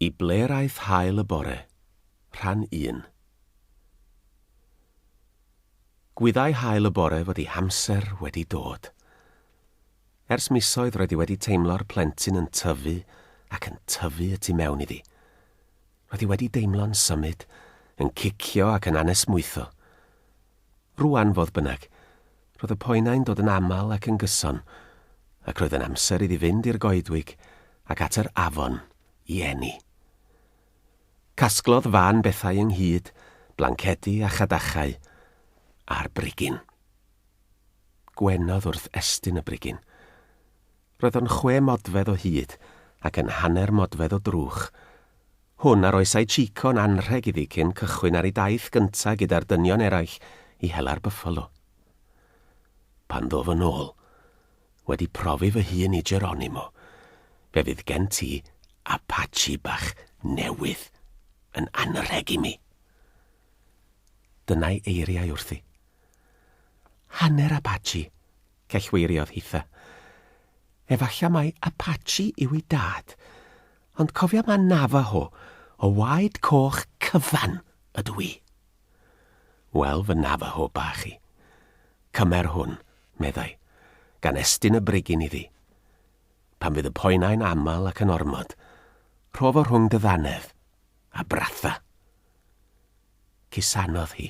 Y ble'r aeth hael y bore? Rhan un. Gwyddai hael y bore fod ei hamser wedi dod. Ers misoedd roedd hi wedi teimlo'r plentyn yn tyfu ac yn tyfu y tu mewn iddi. Roedd hi wedi deimlo'n symud, yn cicio ac yn anesmwytho. Rŵan, fodd bynnag, roedd y poenau'n dod yn aml ac yn gyson, ac roedd yn amser iddi fynd i'r goedwig ac at yr afon i eni. Casglodd Van bethau ynghyd, blancedi a chadachau, a'r brigyn. Gwenodd wrth estyn y brigyn. Roedd o'n chwe modfedd o hyd ac yn hanner modfedd o drwch. Hwn a roesai Chico'n anrheg iddi cyn cychwyn ar ei daith gynta gyda'r dynion eraill i hela'r byffalo. Pan ddof yn ôl, wedi profi fy hun i Geronimo, fe fydd gen ti Apache bach newydd yn anrheg i mi. Dyna'i eiriau wrthi. Hanner Apache, cellweiriodd Hitha. Efallai mai Apache yw ei dad, ond cofia mai Navajo o waed coch cyfan ydw i. Wel, fy Navajo bach i. Cymer hwn, meddai, gan estyn y bregyn iddi. Pan fydd y poenau'n aml ac yn ormod, rho fo rhwng dy ddannedd, a bratha. Cusanodd hi.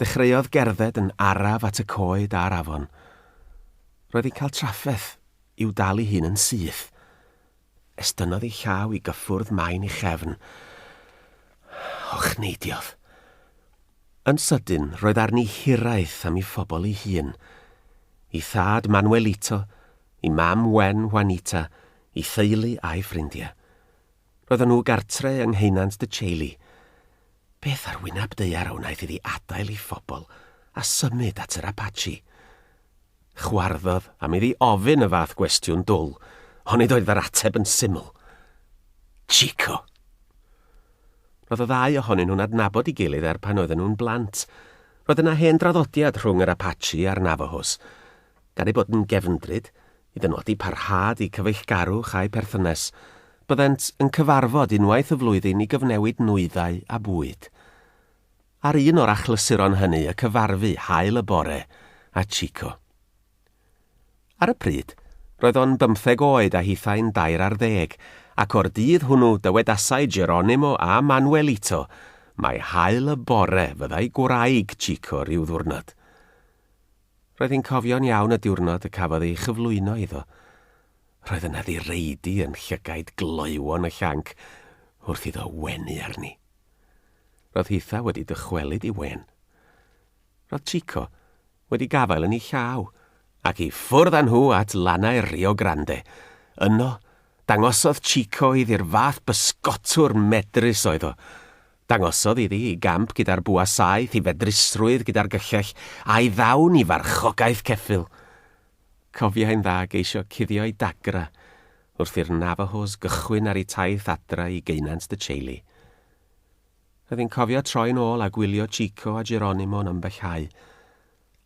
Dechreuodd gerdded yn araf at y coed a'r afon. Roedd hi'n cael trafferth i'w dal ei hun yn syth. Estynnodd ei llaw i gyffwrdd main ei chefn. Hochneidiodd. Yn sydyn, roedd arni hiraeth am ei phobl ei hun. Ei thad Manuelito, ei mam Wen, Juanita, ei theulu a'i ffrindiau. Roedden nhw gartre yng Ngheunant Dŷ Chailey. Beth ar wyneb daear a wnaeth iddi adael ei phobl a symud at yr Apache? Chwarddodd am iddi ofyn y fath gwestiwn dwl, ond nid oedd yr ateb yn syml. Chico! Roedd y ddau ohonyn nhw'n adnabod ei gilydd er pan oedden nhw'n blant. Roedd yna hen draddodiad rhwng yr Apache a'r Navajos. Gan eu bod yn gefndryd, I benodi parhad y cyfeillgarwch a'u perthynas, byddent yn cyfarfod unwaith y flwyddyn i gyfnewid nwyddau a bwyd. Ar un o'r achlysuron hynny y cyfarfu haul y bore â Chico. Ar y pryd, roedd o'n bymtheg oed a hithau'n dair ar ddeg, ac o'r dydd hwnnw dywedasai Geronimo a Manuelito mai haul y bore fyddai gwraig Chico ryw ddiwrnod. Roedd hi'n cofio'n iawn y diwrnod y cafodd ei chyflwyno iddo. Roedd yna ddireidi yn llygaid gloywon y llanc wrth iddo wenu arni. Roedd hitha wedi dychwelyd i wen. Roedd Chico wedi gafael yn ei llaw, ac i ffwrdd â nhw at lannau'r Rio Grande. Yno, dangosodd Chico iddi'r fath bysgotwr medrus oedd o, Dangosodd iddi i gamp gyda'r bwa saeth, i fedrusrwydd gyda'r gyllell, a'i ddawn i farchogaeth ceffyl. Cofiai'n dda geisio cuddio'i dagra wrth i'r Navahos gychwyn ar eu taith adra i geunant De Chelly. Roedd hi'n cofio troi'n ôl a gwylio Chico a Geronimo yn ymbellhau,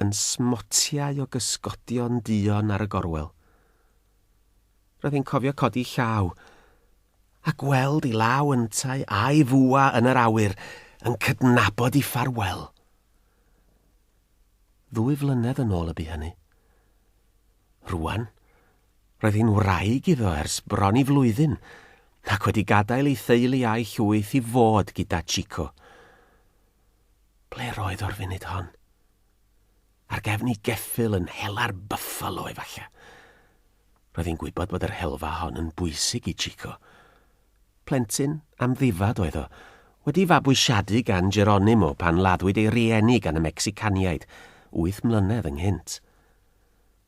yn smotiau o gysgodion duon ar y gorwel. Roedd hi'n cofio codi llaw, A gweld i law yntau a'i fwa yn yr awyr yn cydnabod i ffarwel. Ddwy flynedd yn ôl y bu hynny. Rwan, roedd hi'n wraig iddo ers bron i flwyddyn, ac wedi gadael ei theulu a'i llwyth i fod gyda Chico. Ble'r oedd o'r funud hon? Ar gefn i geffyl yn hela'r Buffalo, efallai. Roedd hi'n gwybod bod yr helfa hon yn bwysig i Chico. Plentyn amddifad oedd o, wedi fabwysiadu gan Geronimo pan laddwyd ei rieni gan y Mecsicaniaid wyth mlynedd ynghynt.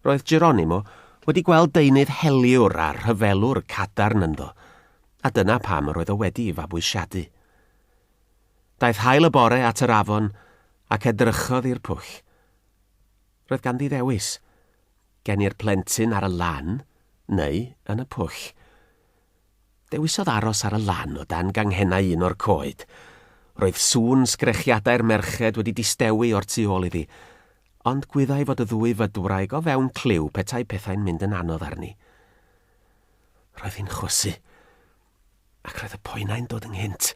Roedd Geronimo wedi gweld deunydd heliwr a rhyfelwr cadarn ynddo, a dyna pam yr oedd o wedi ei fabwysiadu. Daeth haul y bore at yr afon ac edrychodd i'r pwll. Roedd ganddi ddewis. Geni'r plentyn ar y lan, neu yn y pwll. Dewisodd aros ar y lan o dan ganghennau un o'r coed. Roedd sŵn sgrechiadau'r merched wedi distewi o'r tu ôl iddi, ond gwyddai fod y ddwy fydwraig o fewn clyw petai pethau'n mynd yn anodd arni. Roedd hi'n chwysu. ac roedd y poenau'n dod ynghynt.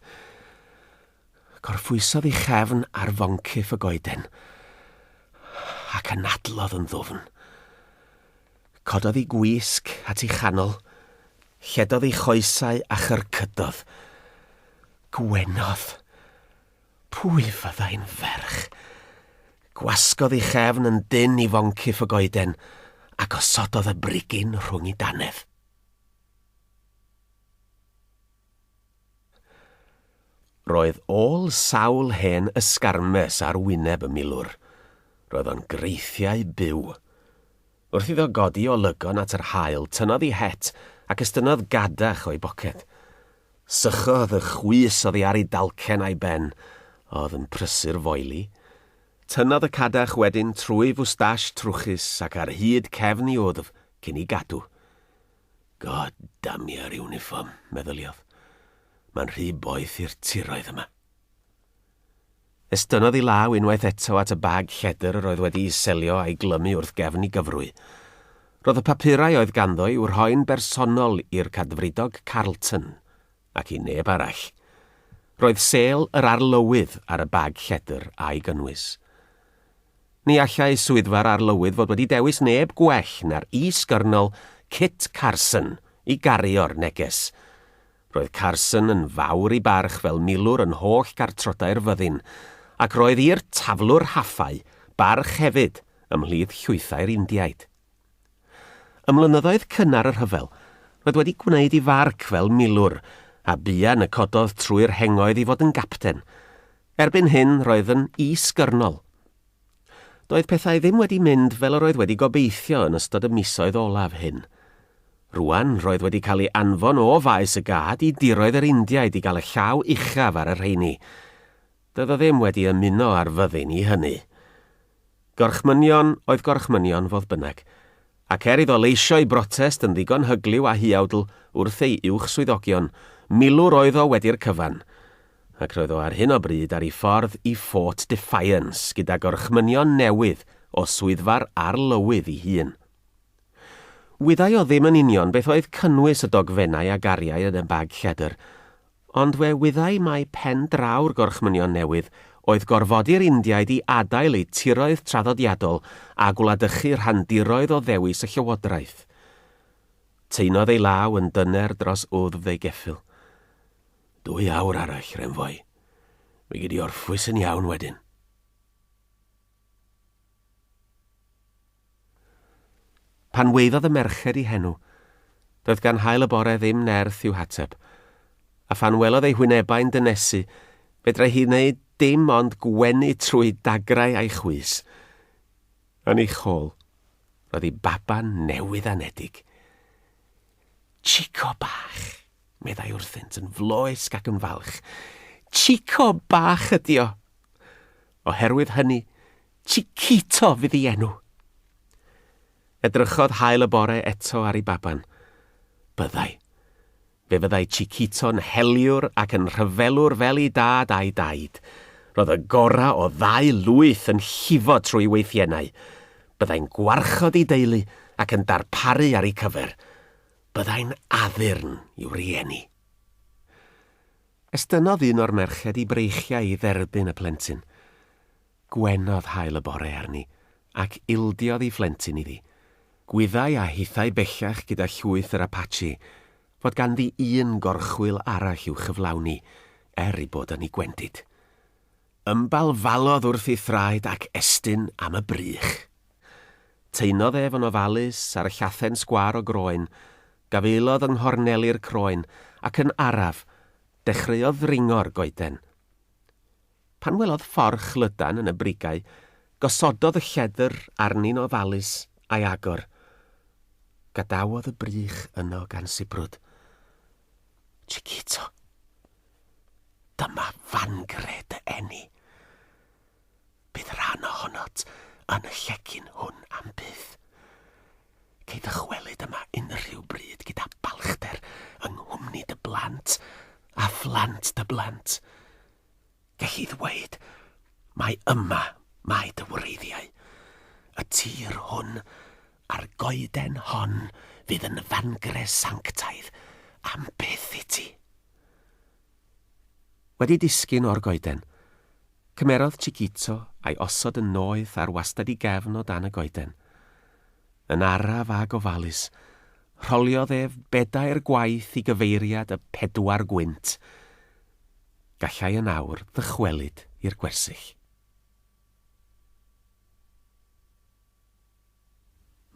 Gorffwysodd ei chefn ar foncyff y goeden, ac anadlodd yn ddwfn. Cododd ei gwisg at ei chanol, lledodd ei choesau a chyrcydodd. Gwenodd! Pwy fyddai'n ferch? Gwasgodd ei chefn yn dynn i foncyff y goeden, a gosododd y brigyn rhwng ei danedd. Roedd ôl sawl hen ysgarmes ar wyneb y milwr. Roedd o'n greithiau byw. Wrth iddo godi o lygon at yr haul, tynnodd i het ac estynnodd gadach o'i boced. Sychodd y chwys oddi ar ei dalcen a'i ben, a oedd yn prysur foeli. Tynnodd y cadach wedyn trwy fwstash trwchus ac ar hyd cefn i wddf cyn ei gadw. God damn your uniform, meddyliodd. Mae'n rhy boeth i'r tiroedd yma. Estynnodd ei law unwaith eto at y bag lledr yr oedd wedi i selio a'i glymu wrth gefn i gyfrwy. Roedd y papurau oedd ganddo i'w rhoi'n bersonol i'r cadfridog Carlton. ac i neb arall. Roedd sêl yr Arlywydd ar y bag lledr a'i gynnwys. Ni allai swyddfa'r Arlywydd fod wedi dewis neb gwell na'r Is-Gyrnol Kit Carson i gario'r neges. Roedd Carson yn fawr i barch fel milwr yn holl gartrodau'r fyddin, ac roedd i'r taflwr haffau barch hefyd ymhlith llwythau'r Indiaid. Ym mlynyddoedd cynnar y rhyfel, roedd wedi gwneud i farc fel milwr, a buan y cododd trwy'r hengoedd i fod yn gapten. Erbyn hyn, roedd yn is-gyrnol. Doedd pethau ddim wedi mynd fel yr oedd wedi gobeithio yn ystod y misoedd olaf hyn. Rŵan, roedd wedi cael ei anfon o faes y gad i diroedd yr Indiaid i gael y llaw uchaf ar y rheini. Doedd o ddim wedi ymuno â'r fyddin i hynny. Gorchmynion oedd gorchmynion, fodd bynnag, ac er iddo leisio'i brotest yn ddigon hyglyw a huawdl wrth ei uwchswyddogion, milwr oedd o wedi'r cyfan, ac roedd o ar hyn o bryd ar ei ffordd i Fort Defiance gyda gorchmynion newydd o swyddfa'r Arlywydd ei hun. Wyddai o ddim yn union beth oedd cynnwys y dogfennau a gariai yn y bag lledr, Ond fe wyddai mai pen draw'r Gorchmynion Newydd oedd gorfodi'r Indiaid i adael eu tiroedd traddodiadol a gwladychu rhandiroedd o ddewis y llywodraeth. Taenodd ei law yn dyner dros wddf ei geffyl. Dwy awr arall, Renfoi. Mi gei di orffwys yn iawn wedyn. Pan weiddodd y merched i henw, doedd gan Haul y Bore ddim nerth i'w hateb, a phan welodd ei hwynebau'n dynesu, fedrai hi wneud dim ond gwenu trwy dagrau a'i chwys. Yn ei chôl, roedd ei baban newydd anedig. Chico bach! meddai wrthynt yn floesg ac yn falch. Chico bach ydi o! Oherwydd hynny, Chiquito fydd ei enw. Edrychodd Hael y bore eto ar ei baban. Byddai. Fe fyddai Chiquito'n heliwr ac yn rhyfelwr fel ei dad a'i daid. Roedd y gorau o ddau lwyth yn llifo trwy weithiennau. Byddai'n gwarchod ei deulu ac yn darparu ar eu cyfer. Byddai'n addurn i'w rieni. Estynnodd un o'r merched i breichiau i dderbyn y plentyn. Gwenodd haul y bore arni, ac ildiodd ei phlentyn iddi. Gwyddai a hithau bellach gyda llwyth yr Apache fod ganddi un gorchwyl arall i'w chyflawni, er ei bod yn ei gwendid. Ymbalfalodd wrth ei thraed ac estyn am y brych. Taenodd ef yn ofalus ar y llathen sgwâr o groen, gafaelodd yng nghorneli'r croen, ac yn araf, dechreuodd ddringo'r goeden. Pan welodd fforch lydan yn y brigau, gosododd y lledr arni'n ofalus a'i agor. Gadawodd y brych yno gan sibrwd. Chiquito! Dyma fangre dy eni. Bydd rhan ohonot yn y llecyn hwn am byth. Cei ddychwelyd yma unrhyw bryd gyda balchder yng nghwmni dy blant a phlant dy blant. Gelli ddweud mai yma mae dy wreiddiau, y tir hwn a'r goeden hon fydd yn fangre sanctaidd am byth i ti. Wedi disgyn o'r goeden, cymerodd Chiquito a'i osod yn noeth ar wastad i gefn o dan y goeden. Yn araf a gofalus, rholiodd ef bedair gwaith i gyfeiriad y pedwar gwynt. Gallai yn awr ddychwelyd i'r gwersyll.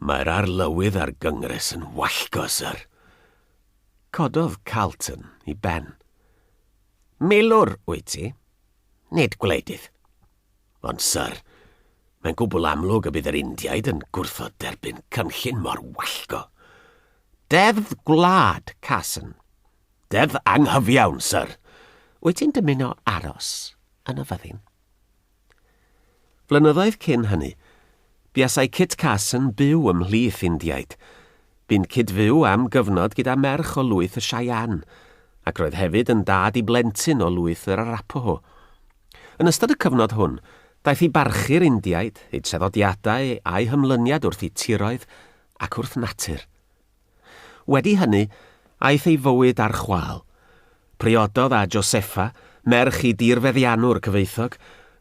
Mae'r arlywydd a'r Gyngres yn wallgo, Syr. Cododd Carleton i ben. Milwr wyt ti, nid gwleidydd. Ond, Syr, mae'n gwbl amlwg y bydd yr Indiaid yn gwrthod derbyn cynllun mor wallgo. Deddf gwlad, Carson, Deddf anghyfiawn, syr. Wyt ti'n dymuno aros yn y fyddin? Flynyddoedd cyn hynny, buasai Kit Carson byw ymhlith Indiaid. Bu'n cyd-fyw am gyfnod gyda merch o lwyth y Cheyenne, ac roedd hefyd yn dad i blentyn o lwyth yr Arapaho. Yn ystod y cyfnod hwn, daeth i barchu'r Indiaid, eu traddodiadau a'u hymlyniad wrth eu tiroedd ac wrth natur. Wedi hynny, aeth ei fywyd ar chwâl. Priododd â Josefa, merch i dirfeddiannwr cyfoethog,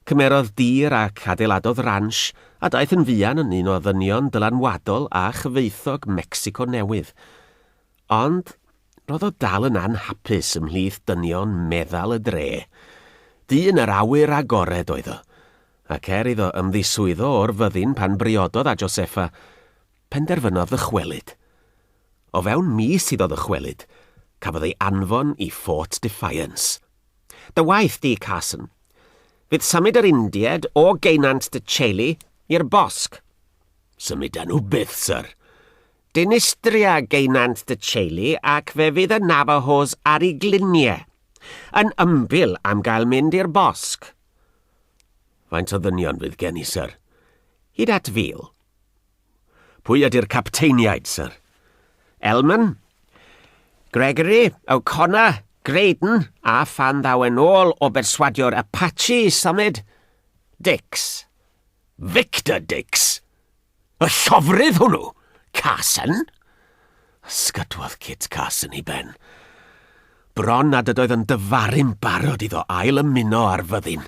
cymerodd dir ac adeiladodd ransh a daeth yn fuan yn un o ddynion dylanwadol a chyfoethog Mecsico Newydd. Ond, roedd o dal yn anhapus ymhlith dynion meddal y dre. Dyn yr awyr agored oedd o, ac er iddo ymddiswyddo o'r fyddin pan briododd â Josefa, Penderfynodd ddychwelyd. O fewn mis iddo ddychwelyd, cafodd ei anfon i Fort Defiance. Dy waith di, Carson. Fydd symud yr Indied o geunant dy teulu i'r bosg. Symudan nhw byth, syr. Dinistria geunant dy teulu ac fe fydd y Navajos ar ei glinie, yn ymbil am gael mynd i'r bosg. Faint o ddynion fydd gen i, syr? Hyd at fil. Pwy ydy'r capteiniaid, syr? Elman, Gregory, O'Connor, Graydon, a phan ddaw e'n ôl o berswadio'r Apache i symud, Dix. Victor Dix? Y llofrudd hwnnw? Carson? Ysgydwodd Kit Carson i ben. Bron nad ydoedd yn dyfaru'n barod iddo ail ymuno ar fyddin.